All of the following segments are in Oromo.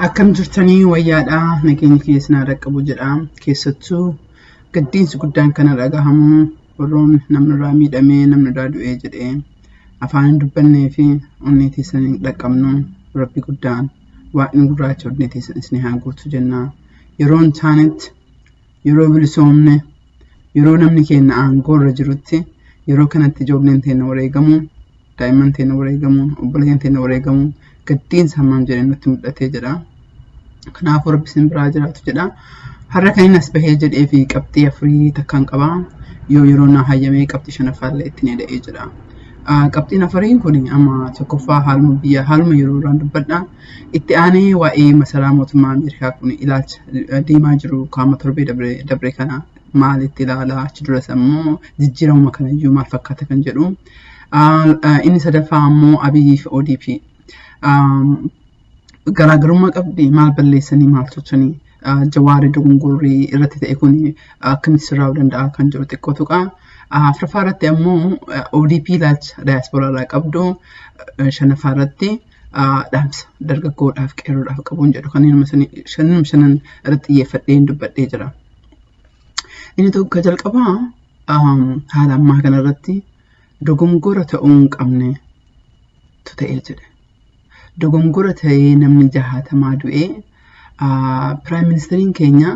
Akkam jirtanii wayyaadha nageenyi kiyya isin haa dhaqqabu jedha keessattuu gaddiinsi guddaan kana dhagahamu warroon namni irraa miidhamee namni irraa du'ee jedhee afaan hin dubbannee fi onnee teessan hin dhaqqabnu rabbi guddaan waaqni gurraacha onnee teessan isin haa guutu jenna yeroon taanetti yeroo bilisoomne yeroo namni keenya aangoo irra jirutti yeroo kanatti ijoolleen teenya wareegamuu daa'imman teenya wareegamuu obboleeyyan teenya wareegamuu gaddiinsa hammam jedhee nutti mul'atee jedha kanaafuu rabbi isin biraa jiraatu jedha har'a kan inni as bahee jedhee fi qabxii afurii takkaan qaba yoo yeroo naa hayyamee qabxii shanaffaa illee ittiin eda'ee jedha qabxiin afuriin kun amma tokkoffaa haaluma biyya haaluma yeroo irraan dubbadha Itti aanee waa'ee masaraa mootummaa Ameerikaa kun ilaalcha deemaa jiru qaama torbee dabre kana maalitti ilaala achi duras ammoo jijjiiramuma kanayyuu maal fakkaata kan jedhu. Inni sadaffaa ammoo Abiyyii fi ODP garaagarummaa qabdi maal balleessanii maal tolchanii jawaarri dogongorri irratti ta'e kun akkamitti sirraa'uu danda'a kan jedhu xiqqoo tuqa. Afraffaa irratti ammoo ODP ilaalcha daayaspooraa irraa qabdu shanaffaa irratti dhaamsa dargaggoodhaaf qeerroodhaaf qabuun jedhu kanneen shanan shanan irratti xiyyeeffadheen dubbadhee jira. Inni tokko jalqabaa haala ammaa kana irratti dogongora ta'uu hin qabne tu ta'ee jedhe. Dogongora ta'ee namni jahaatamaa du'ee Piraayim ministeriin keenya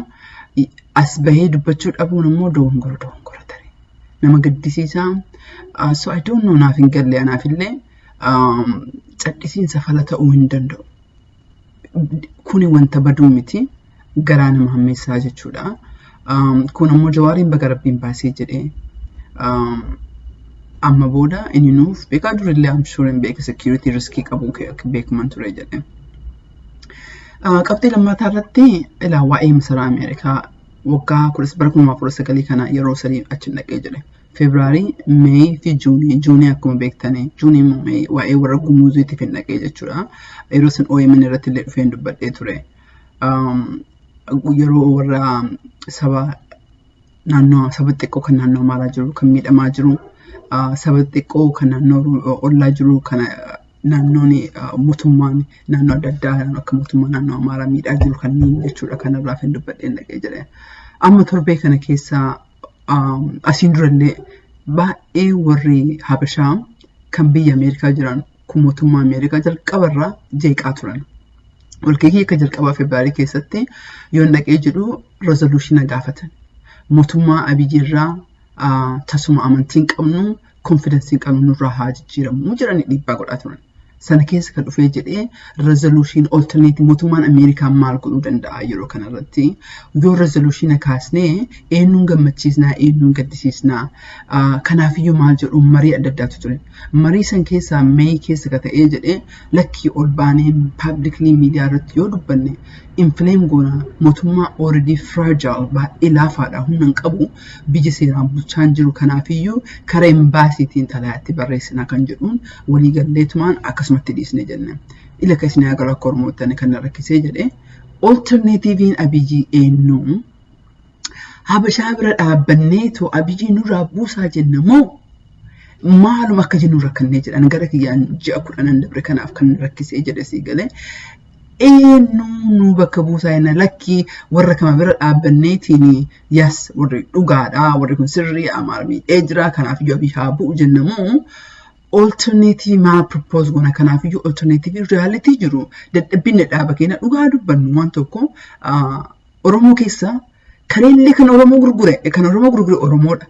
as bahee dubbachuu dhabuun immoo dogongora dogongora tare. Nama gaddisiisaa. So I don't know naaf hin galle anaaf illee cadhisiinsa fala ta'uu hin danda'u. Kuni wanta baduu miti garaa nama hammeessaa jechuudha. Kun ammoo jawaariin baga rabbiin baasee jedhee amma booda inni nuuf beekaa durillee amshuuriin beeka security riskii qabu beekuman ture jedhee. Qabxii lammataa irratti ilaa waa'ee masaraa Ameerikaa waggaa bara kuma kudha sagalii kana yeroo sadii achi dhaqee jedhe. Febraarii, Meey fi Juunii. Juunii akkuma beektanii Juunii immoo Meey waa'ee warra gumuuziitiif hin dhaqee jechuudha. Yeroo san OMN irratti illee dhufeen dubbadhee ture. Yeroo warra saba naannoo saba xiqqoo kan naannoo maalaa jiru kan miidhamaa jiru saba xiqqoo kan naannoo ollaa jiru kan naannoon mootummaan naannoo adda addaa akka mootummaa naannoo Amaaraa miidhaa jiru kanneen jechuudha kanarraa kan dubbadheen dhaqee jedhee. Amma torbee kana keessa asiin durallee baay'ee warri Habashaa kan biyya Ameerikaa jiran kun mootummaa Ameerikaa jalqabarraa jeeqaa turan. Walgahii akka jalqabaa Febraarii keessatti yoon dhaqee jedhu rezoluushina gaafatan. Mootummaa Abiyyi irraa tasuma amantiin qabnu konfidansiin qabnu nurraa haa jijjiiramu jedhanii dhiibbaa godhaa turan. Sana keessa kan dhufee jedhee rezolushiin olterneetii mootummaan Ameerikaa maal godhuu danda'a yeroo kanarratti yoo rezolushiina kaasnee eenyuun gammachiisnaa eenyuun gaddisiisnaa kanaafiyyuu maal jedhu marii adda addaatu ture. Marii san keessaa meeyi keessa ka ta'ee jedhee lakkii ol baanee paablikilii miidiyaa irratti yoo dubbanne infileem goona mootummaa ooredii firaajaal baay'ee laafaadha humna hin qabu biyya seeraan bulchaan jiru kanaafiyyuu kara imbaasiitiin xalayaatti barreessinaa kan jedhuun walii galleetumaan akkasumatti dhiisne jenne. Ila ka isin agaru akka ormoottani kan na rakkisee jedhe olterneetiiviin abiyii eenyuu habashaa bira dhaabbanneetu abiyii nurraa buusaa jenna moo maaluma akka jennu rakkannee jedhan gara kiyyaan ji'a kudhanan dabre kanaaf kan rakkisee jedhe sii galee eenyuu nu bakka buusaa jenna lakkii warra kama bira dhaabbanneetiin Yes, warri dhugaadha, warri kun sirrii amaara miidhee jira, kanaaf iyyuu abii haa bu'u jenna moo olterneetii maal propose goona kanaaf iyyuu olterneetiivii riyaalitii jiru dadhabbiin dadhaaba keenya dhugaa dubbannu waan tokko Oromoo keessa kareellee kan Oromoo gurgure kan Oromoo gurgure Oromoodha.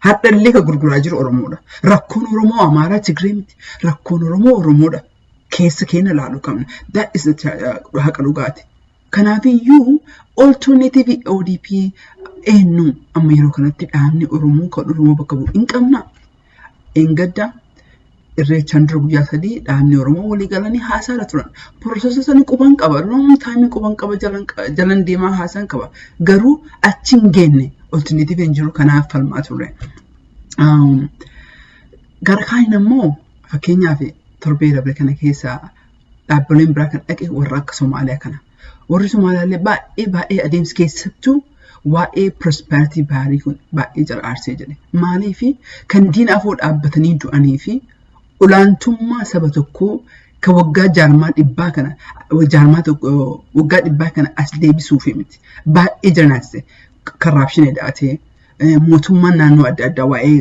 Hadhallee kan gurguraa jiru Oromoodha. Rakkoon Oromoo Amaaraa Tigree miti. Rakkoon Oromoo Oromoodha. Keessa keenya ilaaluu qabna. That is the haqa dhugaati. Kanaafiyyuu olterneetiivii ODP eenyu amma yeroo kanatti dhaabni Oromoo kan Oromoo bakka bu'u hin qabna. Engadda irreechaan dura guyyaa sadii dhaabni Oromoo walii galanii haasaarra turan. Pirosesa sana quban qaba. Loon taa'imni quban qaba jalan deemaa haasaan qaba. Garuu achi hin geenne olterneetiivii hin jiru kanaaf falmaa turre. Gara kaaniin ammoo fakkeenyaaf torbee dabre kana keessaa dhaabbileen biraa kan dhaqe warra akka Somaaliyaa kana. Warri Somaaliyaa illee baay'ee baay'ee adeemsi keessattuu waa'ee prosperity baarii kun baay'ee jara aarsee jedhe. Maaliif kan diina afoo dhaabbatanii du'anii fi olaantummaa saba tokkoo kan waggaa jaarmaa dhibbaa kana jaarmaa tokko waggaa dhibbaa kana as deebisuuf miti. Baay'ee jara naasise. Karraapshinii daatee mootummaan naannoo adda addaa waa'ee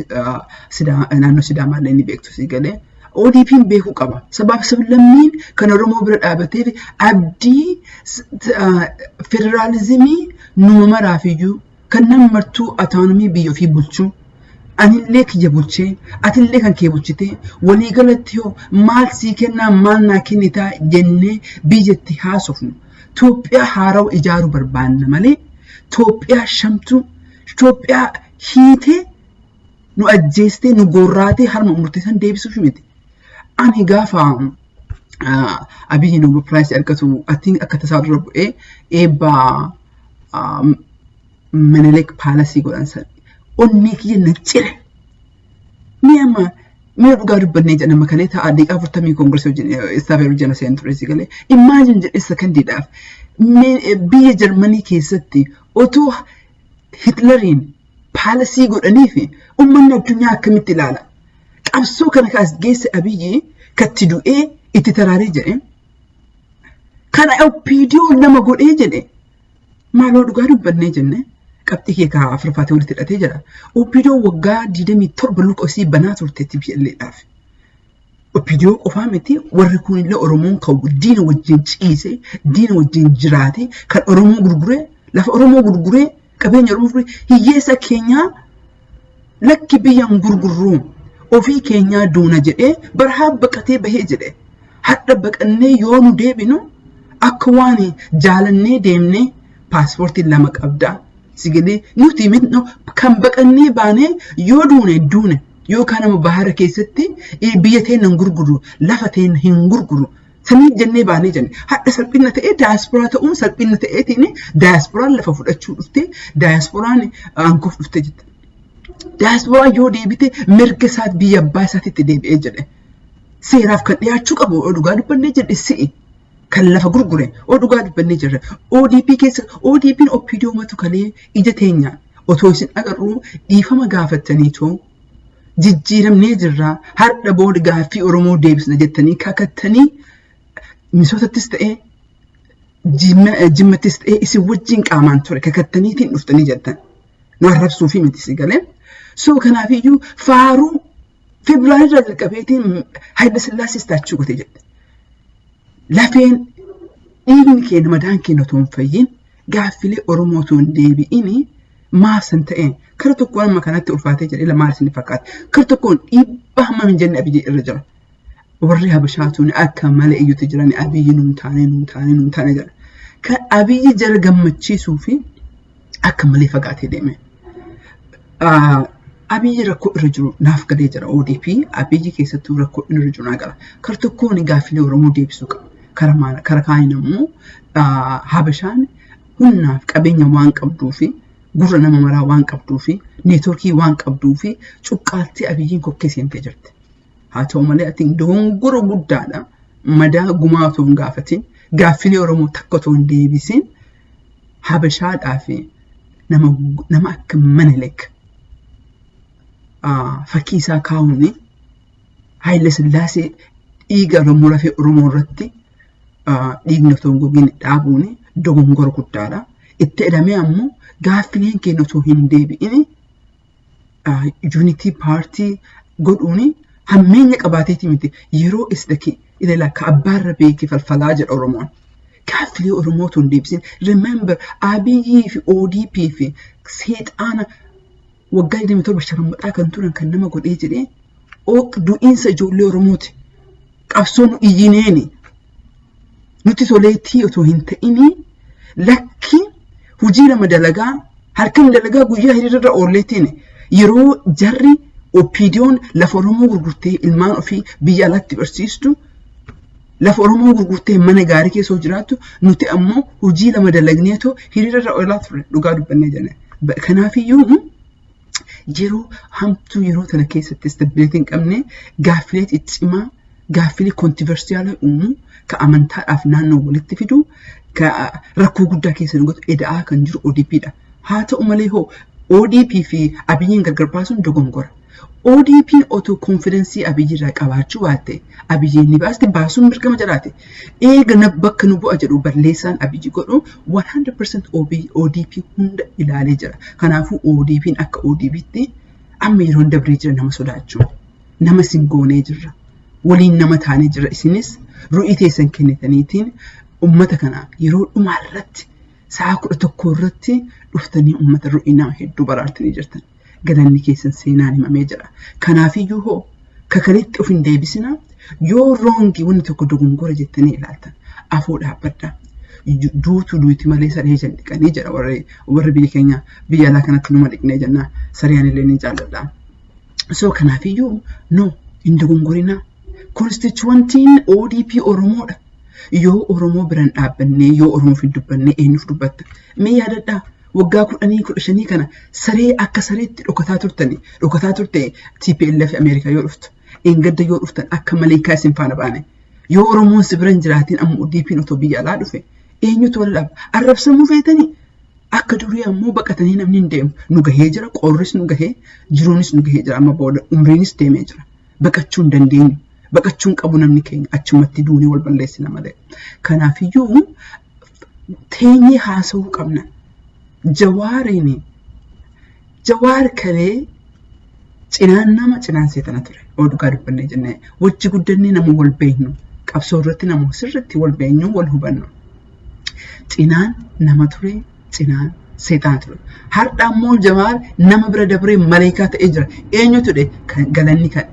naannoo Sidaamaa illee ni beektu sii galee. ODP'n beekuu qaba. Sabaaf sablammiin kan Oromoo bira dhaabatee fi abdii federaalizimii numa maraaf iyyuu kan nama martuu ataanomii biyya ofii bulchuu anillee kiyya bulchee atillee kan kee bulchitee waliigalatti hoo maal sii kennaa maal naa kennitaa jennee biyyatti haasofnu Toophiyaa haarawa ijaaruu barbaanna malee Toophiyaa shamtuu, Toophiyaa hiitee nu ajjeestee, nu goorraatee harma murtee san deebisuuf miti. Ani gaafa Abiyyi Noobel Piraayis argatu atiin akka tasaa dura bu'ee eebba Menelik Paalasii godhan san onnee kiyya na cire. Mee amma mee dhugaa dubbannee jedhan amma kalee ta'a deeqaa afurtamii koongireesii wajjin istaafee wajjin na seenan ture si galee immaajin jedhe sakandiidhaaf biyya Jarmanii keessatti otoo Hitlariin paalasii godhanii fi uummanni addunyaa akkamitti ilaala qabsoo kana kaas geesse abiyyi katti du'ee itti taraaree jedhe kana opiidiyoo nama godhee jedhe Maaloo dhugaa dubbannee jenne qabxii kee kaa afurfaatee walitti hidhatee jedha. Opiidoo waggaa 27 luka isii banaa turte TPLAdhaaf. Opiidoo qofaa miti warri kun illee Oromoon kan diina wajjin ciise, diina wajjin jiraate, kan Oromoo gurguree, lafa Oromoo gurguree, qabeenya Oromoo gurguree, hiyyeessa keenyaa lakki biyyan gurgurruu ofii keenyaa duuna jedhee barhaa baqatee bahee jedhe hadha baqannee yoo nu deebinu akka waan jaalannee deemnee paaspoortiin lama qabdaa sigilii nuti mitno kan baqannee baanee yoo duune duune yookaan nama bahara keessatti biyya teenna hin gurgurru lafa teenna hin gurgurru Saniif jennee baanee jenne. Hadha salphinna ta'ee daayasporaa ta'uun salphinna ta'eetiin daayasporaan lafa fudhachuu dhuftee daayasporaan aangoof dhuftee jette. Daayasporaan yoo deebite mirga isaa biyya abbaa isaatitti deebi'ee jedhe. Seeraaf kan dhiyaachuu qabu yoo dhugaa dubbannee jedhe si'i. Kan lafa gurgure yoo dhugaa dubbannee jirre ODP keessa ODPn OPDOmatu kalee ija teenyaan otoo isin agarruu dhiifama gaafattaniitoo jijjiiramnee jirra har'a booda gaaffii Oromoo deebisna jettanii kakattanii misoosattis ta'ee jimmattis ta'ee isin wajjin qaamaan ture kakattaniitiin dhuftanii jettan nu arrabsuu fi miti si galee soo kanaafiyyuu faaruu Febraarii irraa jalqabeetiin Haayila Sillaasee istaachuu gote jette lafeen dhiigni keenya madaan keenya otoo hin fayyin gaaffilee Oromoo osoo hin deebi'in maaf san ta'een kara tokkoon amma kanatti ulfaatee jedhee maal isin fakkaata kara tokkoon dhiibbaa hammam hin jenne abiyyi irra jira warri habashaa tuuni akka malee iyyuutti jirani abiyyi nuun taane nuun taane nuun taane jedha kan abiyyi jara gammachiisuu fi akka malee fagaatee deeme. Abiyyi rakkoo irra jiru naaf galee jira ODP Abiyyi keessattuu rakkoo inni irra jiru naa gala. Kara tokkoon gaaffilee Oromoo deebisuu qaba. Kara maal kara kaaniin ammoo Habashaan humnaaf qabeenya waan qabduu fi gurra nama maraa waan qabduu fi neetworkii waan qabduu fi cuqqaaltee Abiyyiin kokkee seentee jirti. Haa ta'u malee ati dogongora guddaadha. Madaa gumaa otoo hin gaafatin gaaffilee Oromoo takka otoo hin deebisin Habashaadhaa fi nama nama akka Menelik ah, fakkii isaa kaa'uun Haayila Sillaasee dhiiga Oromoo lafee Oromoo irratti ah, dhiigni otoo hin gogin dhaabuun dogongora guddaadha. Itti jedhamee ammoo gaaffileen keenya otoo hin deebi'in yuunitii paartii godhuun hammeenya qabaateeti miti yeroo isdaki ilala ka abbaarra beeke falfalaa jedha Oromoon. Gaaffilee Oromoo tun deebisin remember Abiyyii fi ODP fi seexaana waggaa 27 sharammuxaa kan turan kan nama godhee jedhee du'iinsa ijoollee Oromooti. qabsoo nu iyyineeni nutti toleetii otoo hin ta'inii lakki hojii lama dalagaa halkan dalagaa guyyaa hiriirra oolleetiin yeroo jarri oppiidiyoon lafa Oromoo gurgurtee ilmaan ofii biyya alaatti barsiistu lafa Oromoo gurgurtee mana gaarii keessa jiraattu nuti ammoo hojii lama dalagneetoo hiriirra oolaa turre dhugaa dubbannee jenne. Kanaafiyyuu yeroo hamtuu yeroo tana keessatti istabilitii hin qabne gaaffilee ciccimaa gaaffilee kontiversiyaalii uumu ka amantaadhaaf naannoo walitti fidu ka rakkoo guddaa keessa nu godhu eda'aa kan jiru ODP dha. Haa ta'u malee hoo ODP fi Abiyyiin gargar baasuun dogongora. ODPn otoo konfidensii Abiyyii irraa qabaachuu baatte Abiyyiin ni baasti baasuun mirgama jiraate. Eega na bakka nu bu'a jedhu balleessaan Abiyyi godhu 100% OB, ODP hunda ilaalee jira. Kanaafuu ODPn akka ODPtti amma yeroon dabree jira nama sodaachuu. Nama isin goonee jirra. Waliin nama taanee jirra. Isinis ru'ii teessan kennitaniitiin ummata kana yeroo dhumaa irratti sa'a kudha tokko irratti dhuftanii ummata ru'ii nama hedduu baraartanii jirtan. galanni keessan seenaan himamee jira. Kanaafiyyuu hoo kakanitti of hin deebisinaa yoo roongi wanni tokko dogongora jettanii ilaaltan afoo dhaabbadhaa. Duutu duuti malee saree jan dhiqanii jedha warri warri biyya keenya biyya alaa kanatti numa dhiqnee jennaa saree anillee ni jaalladha. So kanaafiyyuu no hin dogongorinaa. Konstituwantiin ODP Oromoodha. Yoo Oromoo biran dhaabbannee yoo Oromoof hin dubbannee eenyuuf dubbatta? Mee yaadadhaa. Waggaa kudhanii kudha shanii kana saree akka sareetti dhokataa turtani. Dhokataa turte TPLF Ameerikaa yoo dhuftu. Engadda yoo dhuftan akka maleekaa isin faana baane. Yoo Oromoon si bira hin jiraatiin amma ODPn otoo biyya alaa dhufe. Eenyutu wal dhaaba? Arrabsamuu feetanii? Akka durii ammoo baqatanii namni hin deemu. Nu gahee jira, qoorris nu gahee, jiruunis nu gahee jira amma booda umriinis deemee jira. Baqachuu hin dandeenyu. Baqachuu hin qabu namni keenya achumatti duunee wal balleessina malee. Kanaafiyyuu teenyee haasa'uu qabna. Jawaariin jawaar kalee cinaan nama cinaan seexana ture. Oduu kaa dubbannee jennee wajji guddannee nama wal beeknu qabsoo irratti nama sirriitti wal beeknu wal hubannu. Cinaan nama ture cinaa seexana ture. Har'a ammoo jamaal nama bira dabree maleekaa ta'ee jira. Eenyu ture kan galanni kan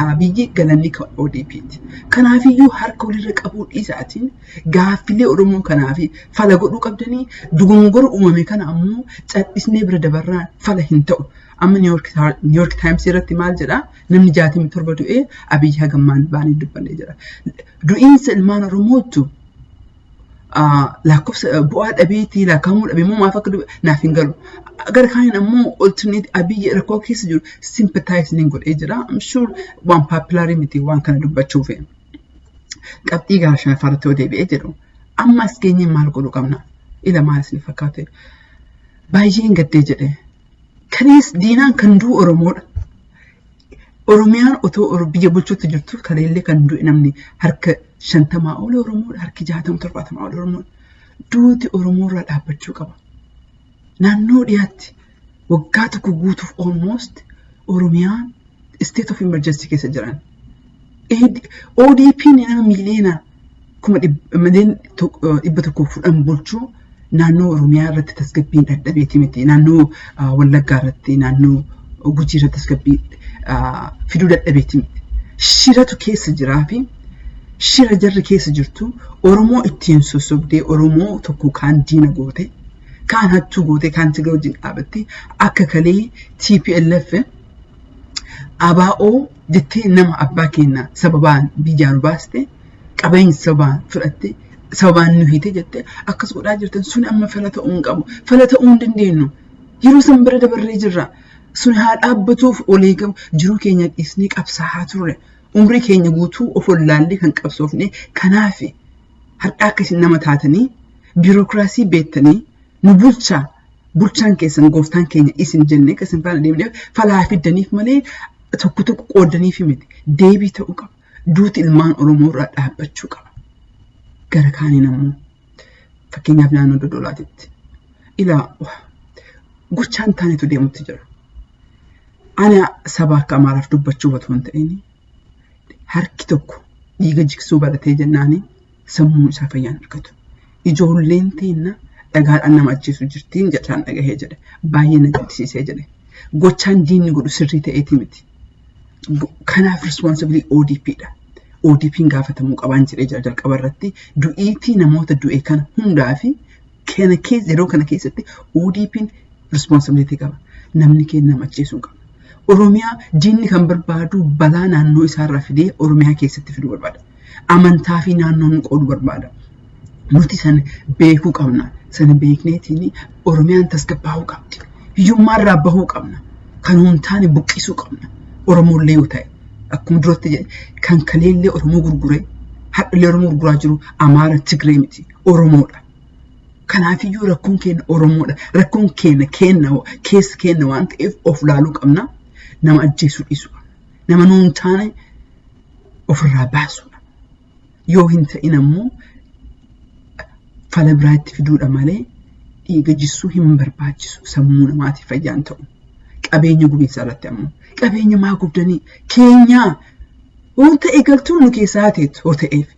Abiyyi galanni kan ODP'ti. Kanaafiyyuu harka walirra qabuu dhiisaatiin gaaffilee Oromoo kanaa fi fala godhuu qabdanii dogongora uumame kana ammoo cadhisnee bira dabarraan fala hin ta'u. Amma Niiyork Taayims irratti maal jedhaa namni jaatamii torba du'ee Abiyyi hagammaan baanee dubbanne jira. Du'iinsa ilmaan Oromootu lakkoofsa bu'aa dhabeetii lakkaa'amuu dhabe immoo maaf akka naaf hin galu. Gara kaaniin ammoo alternate abiyyi rakkoo keessa jiru sympathize ni godhee jira. I'm sure waan paapilaarii miti waan kana dubbachuuf. Qabxii gahaa shanaffaa irratti yoo deebi'ee jedhu amma as geenyee maal godhuu qabna? Ila maal isin fakkaate? Baay'een gaddee jedhee. Kalees diinaan kan du'u Oromoodha. Oromiyaan otoo biyya bulchuutti jirtu kaleellee kan du'e namni harka shantamaa ol Oromoodha. Harki jaatama torbaatamaa ol Oromoodha. Duuti Oromoorraa dhaabbachuu qaba. Naannoo dhiyaatti waggaa tokko guutuuf almost Oromiyaan state of emergency keessa jiran. ODP'n nama miiliyoonaa kuma mileen dhibba tokkoof fudhan bulchu naannoo Oromiyaa irratti tasgabbiin dhadhabeeti miti. Naannoo Wallaggaa irratti naannoo Gujii irratti tasgabbii fiduu dhadhabeeti miti. Shiratu keessa jiraa fi shira jarri keessa jirtu Oromoo ittiin sossobdee Oromoo tokko kaan diina goote kaan hattuu goote kaan tiga wajjin dhaabatte akka kalee TPLF ABO jettee nama abbaa keenya sababaan biyyaa nu baaste qabeenya sababaan fudhatte sababaan nu hiite jette akkas godhaa jirtan sun amma fala ta'uu hin qabu fala ta'uu hin dandeenyu yeroo san bira dabarree jirra sun haa dhaabbatuuf olii gabu jiruu keenya dhiisnee qabsaa'aa turre umrii keenya guutuu of wallaallee kan qabsoofne kanaaf har'aa akka isin nama taatanii biirokiraasii beektanii nu bulchaa bulchaan keessan gooftaan keenya isin jennee akka isin faana deemneef falaa fiddaniif malee tokko tokko qooddaniif miti deebii ta'uu qaba. Duuti ilmaan Oromoo irraa dhaabbachuu qaba. Gara kaaniin ammoo fakkeenyaaf naannoo Dodolaatitti ilaa gochaan taanetu deemutti jira. Ana saba akka Amaaraaf dubbachuu otoo hin ta'in harki tokko dhiiga jiksuu baratee jennaanii sammuu isaa fayyaan argatu. Ijoolleen teenna dhagaadhaan nama ajjeesuu jirtiin jechaan dhagahee jedhe. Baay'ee na gaddisiisee jedhe. Gochaan diinni godhu sirrii ta'eetii miti. Kanaaf responsibilii ODP dha. ODP'n gaafatamuu qabaan jedhee jira jalqaba irratti du'iitii namoota du'e kana hundaa fi kana keessa yeroo kana keessatti ODP'n responsibility qaba. Namni keenya nama ajjeesuu qaba. Oromiyaa diinni kan barbaadu balaa naannoo isaarraa fidee Oromiyaa keessatti fiduu barbaada. Amantaa fi naannoo nu qoodu barbaada. Nuti san beekuu qabna. Sana beekneetiin Oromiyaan tasgabbaa'uu qabdi. Hiyyummaa irraa bahuu qabna. Kan hin taane buqqisuu qabna. Oromoollee yoo ta'e akkuma duratti jedhe kan kaleellee Oromoo gurguree hadhallee Oromoo gurguraa jiru Amaara Tigree miti Oromoodha. Kanaafiyyuu rakkoon keenya Oromoodha. Rakkoon keenya keenya keessa keenya waan ta'eef of laaluu qabna. Nama ajjeesuu dhiisuu qabna. Nama nuun taane ofirraa baasuudha. Yoo hin ta'in ammoo fala biraa itti fiduudha malee dhiiga jissuu hin barbaachisu sammuu namaatiif fayyaan ta'u. Qabeenya gubiinsa irratti ammoo qabeenya maa gubdanii keenyaa waan ta'e galtuun nu keessaa hateetu yoo ta'eef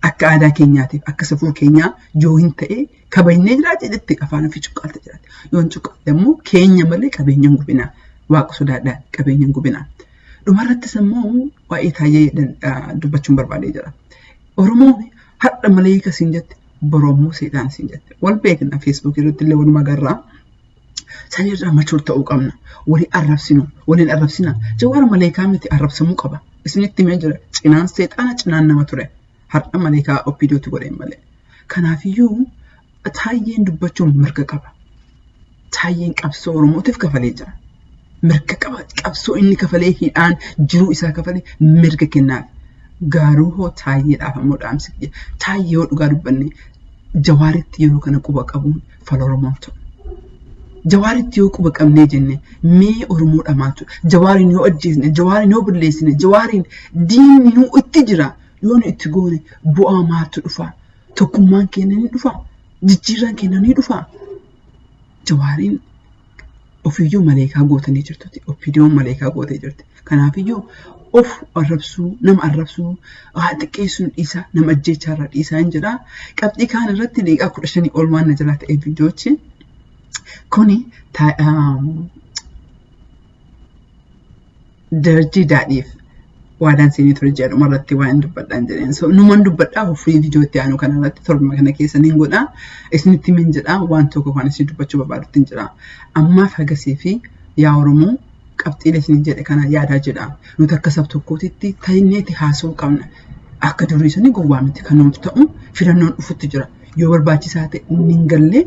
akka aadaa keenyaatiif akka safuu keenyaa yoo hin ta'e kabajnee jiraate jettee afaan ofii cuqqaalta jiraate. Yoo hin cuqqaalle ammoo keenya malee qabeenya hin gubinaa. Waaqa sodaadhaa qabeenya hin gubinaa. Dhumarrattis immoo waa'ee taayee dubbachuun barbaadee jira. Oromoon har'a maleeyika siin jette boroo immoo seexaan siin jette. Wal beekna feesbuukii irratti illee walumaa garraa. San irraa machuur ta'uu qabna. Walii arrabsinu, waliin arrabsina. Jawaar maleekaa miti arrabsamuu qaba. Isinitti himee jira. Cinaan seexaana cinaan nama ture. Har'a malee kaa OPDOtti godheen malee. Kanaafiyyuu taayyeen dubbachuun mirga qaba. Taayyeen qabsoo Oromootiif kafalee jira. Mirga qaba. Qabsoo inni kafalee hidhaan jiruu isaa kafalee mirga kennaaf. Gaaruu hoo taayyeedhaaf ammoo dhaamsi kiyya. Taayyee yoo dhugaa dubbanne jawaaritti yeroo kana quba qabuun fal oromoon ta'u jawaaritti yoo quba qabnee jenne mee oromoodha maaltu jawaariin yoo ajjeesne jawaariin yoo balleessine jawaariin diinni nu itti jira yoo nu itti goone bu'aa maaltu dhufa tokkummaan keenya ni dhufa jijjiirraan keenya ni dhufa jawaariin ofiyyuu maleekaa gootanii jirtuti. Ofiidiyoon maleekaa gootee jirti. Kanaafiyyuu of arrabsuu, nama arrabsuu, haa xiqqeessuun dhiisaa, nama ajjeechaa irraa dhiisaa hin jedhaa. Qabxii kaan irratti liiqaa kudha shanii ol waan na jalaa ta'e viidiyoochi. Kuni darajjii daadhiif waadaan seenee ture jedha dhuma irratti waan hin dubbadhaan jedheen. So numan dubbadhaa ofii viidiyoo itti aanu kana irratti torbuma kana keessa niin godha. Isinitti min jedha waan tokko kan isin dubbachuu barbaadutti hin jira. Ammaaf hagasii fi yaa Oromoo qabxiilee isin jedhe kana yaadaa jedha. Nuti akka sab tokkootitti taineeti haasa'uu qabna. Akka durii suni gowwaa miti kan nuti ta'u filannoon dhufutti jira. yoo barbaachisaa ta'e inni hin galle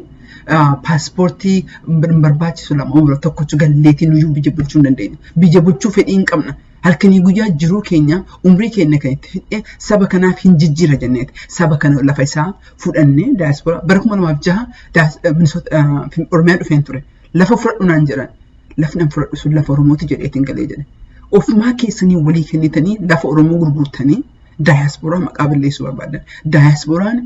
paaspoortii hin barbaachisu lama umra tokkochu galleetii nuyyuu biyya bulchuu hin dandeenye. Biyya bulchuu fedhii hin qabna. Halkanii guyyaa jiruu keenya umrii keenya kan itti fidhee saba kanaaf hin jijjiira jenneeti. Saba kana lafa isaa fudhannee daayispooraa bara kuma lamaaf jaha Oromiyaa dhufeen ture. Lafa fudhadhu naan jedhan. Lafni an fudhadhu sun lafa Oromooti jedheetiin galee jedhe. Ofumaa keessanii walii kennitanii lafa Oromoo gurgurtanii Daayaspooraa maqaa balleessuu barbaadan. Daayaspooraan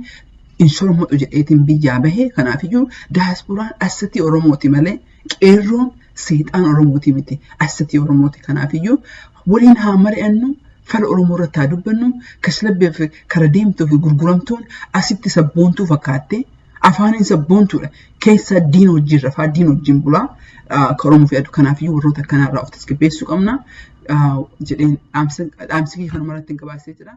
hin soromatu jedheetiin biyyaa bahe kanaaf iyyuu daayaspooraan assatii Oromooti malee qeerroon seexaan Oromooti miti assatii Oromooti kanaaf iyyuu waliin haa mari'annu fala Oromoo irratti haa dubbannu kaslabbeef kara deemtuu fi gurguramtuun asitti sabboontuu fakkaattee Afaaniin sabboontuudha. Keessaa diina wajjin rafaa, diina wajjin bulaa. Ka Oromoo fe'atu kanaafiyyuu warroota akkanarraa of tasgabbeessuu qabna. Jedheen dhaamsa kee kanuma irratti gabaasee jira.